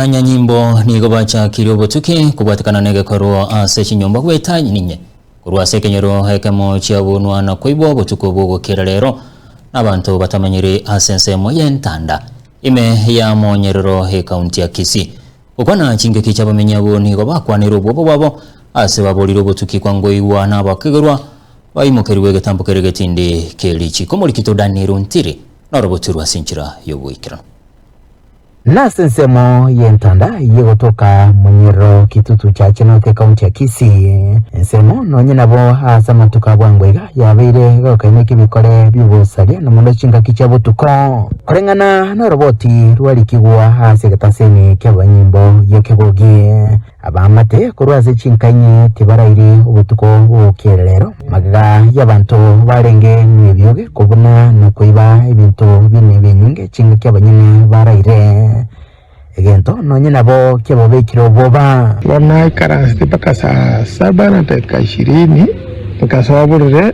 Abanyanyimbo nigo bachakirie obotuki kobwatekana negekorwa ase chinyomba goeta ninye. Korwa ase ekenyoro ekemo chiabunwa na koibwa obotuko bw'ogokera reero nabanto batamanyiri ase ensemo y'entanda ime ya Monyerero ekaunti ya Kisii. Gokwana chingaki chiabamenyi abwo nigo bakwanire obwoba bwabo ase baborire obotuki kwangoigwa nabakegerwa baimokerigwe egetambo kere getindi kerichiko. Omorikito Daniel Ntiri norobotu rwase enchera y'oboikeranu. Nase ensemo y'entanda y'egotoka monyerero Kitutu Church North ekaunti ya Kisii, ensemo nonye nabo ase amatuko a bwango iga yabeire egokaina ekebikore bi'obosaria na mono chingaki chia botuko. Koreng'ana noroboti rwarikigwa ase egetasemi ki'abanyimbo gi'ekebogie, Abaamate korwa ase chinka inye tibarairi obotuko bw'obokererero, magega y'abanto barenge nebioge kobuna na koiba ebinto bine ebinyinge chingaki abanyene baraire egento nonye nabo kiababekire oboba. Ekero naikaransete mpaka saa saba na dakika ishirini, nkasoa oborere,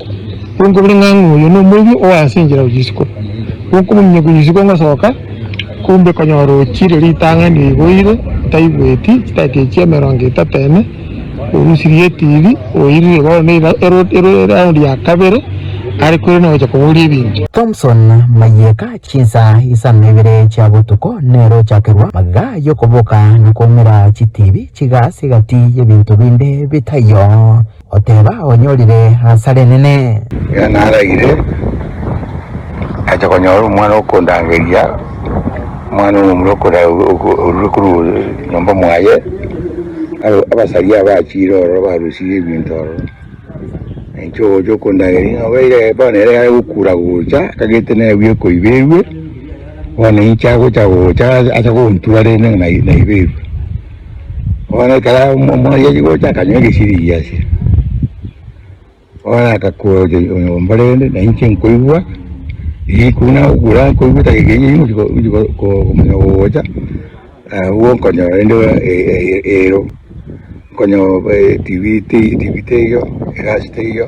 Gonkobire ng'a oyo nomoibi oa ase enchera gochia isiko, gonkomominyokia gochia isiko ngosoka, kumbe konyora ochire ritang'ani igo oire, otaigweti, chidaki echio emerongo etato ene, orusirie etibi, oirire bono ne eround ya kabere, are kore nogochia koboria ebinto. Thomson mayeka chinsaa isano na ibere chia botuko nero ochakerwa magega yokoboka na koumera chitibi chigaasi gati yebinto binde bitaiyo. Oteba, Onyorire hasara enene. Erio naragire, nacha konyora omwana okondangeria, omwana omomura okoda- orure korwa nyomba mwaye, aro abasaria aba achiire ororo barusirie ebinto ororo. Na inche ogocha okondangeria ng'a obe ire bono ere are gokura gocha, tagete naebua ekoiba erue, bono inche agocha gocha acha gontura rende ng'a nai- naiba erue. Bono ekero omorianyi gocha akanywa egesiringi ase, bono agakora oche mbare rende na inche nkoigwa riku nagokura nkoigwa etagera eyio ochi komanya gogocha agwo nkonyora rende ero, nkonyora tv teiyo, egasi teiyo.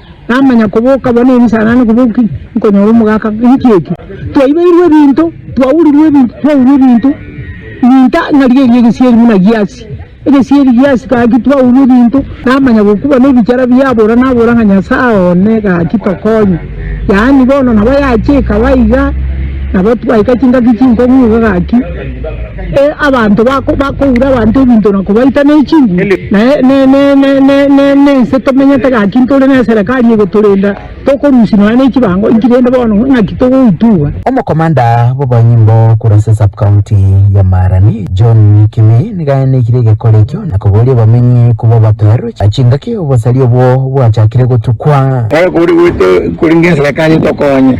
Namanya koboka abwo ne ebisanane koboki nkonyora omogaka ng'iki eki. Twaibeirwe ebinto, twaurirwe ebinto, twaurwa ebinto, ebinto ng'a riria erio egesieri buna giasi, egesieri giasi gaki twaurwa ebinto, namanya gokuba na ebichara biabora nabora ng'a Nyasae one gaki tokonye. Yaani bono nabo yache ekaba iga, nabo twaika chingaki chinkong'u iga gaki. Abanto bakoura abanto ebinto na kobaita ne chinguru, na nense tomenyete gaki ntore ne eserekari egotorenda, tokorusia nonya ne chibango inki rende bono ng'aki togoitugwa? Omokomanda bw'abanyimbo korwa ase Sub-county ya Maarani, John Kimi, nigo aenekire egekora ekio na koboria abamenyi kobua baperwe chingaki obosari obwo bwachakire gotukwa. Tari kori goita korenge eserekari etokonye.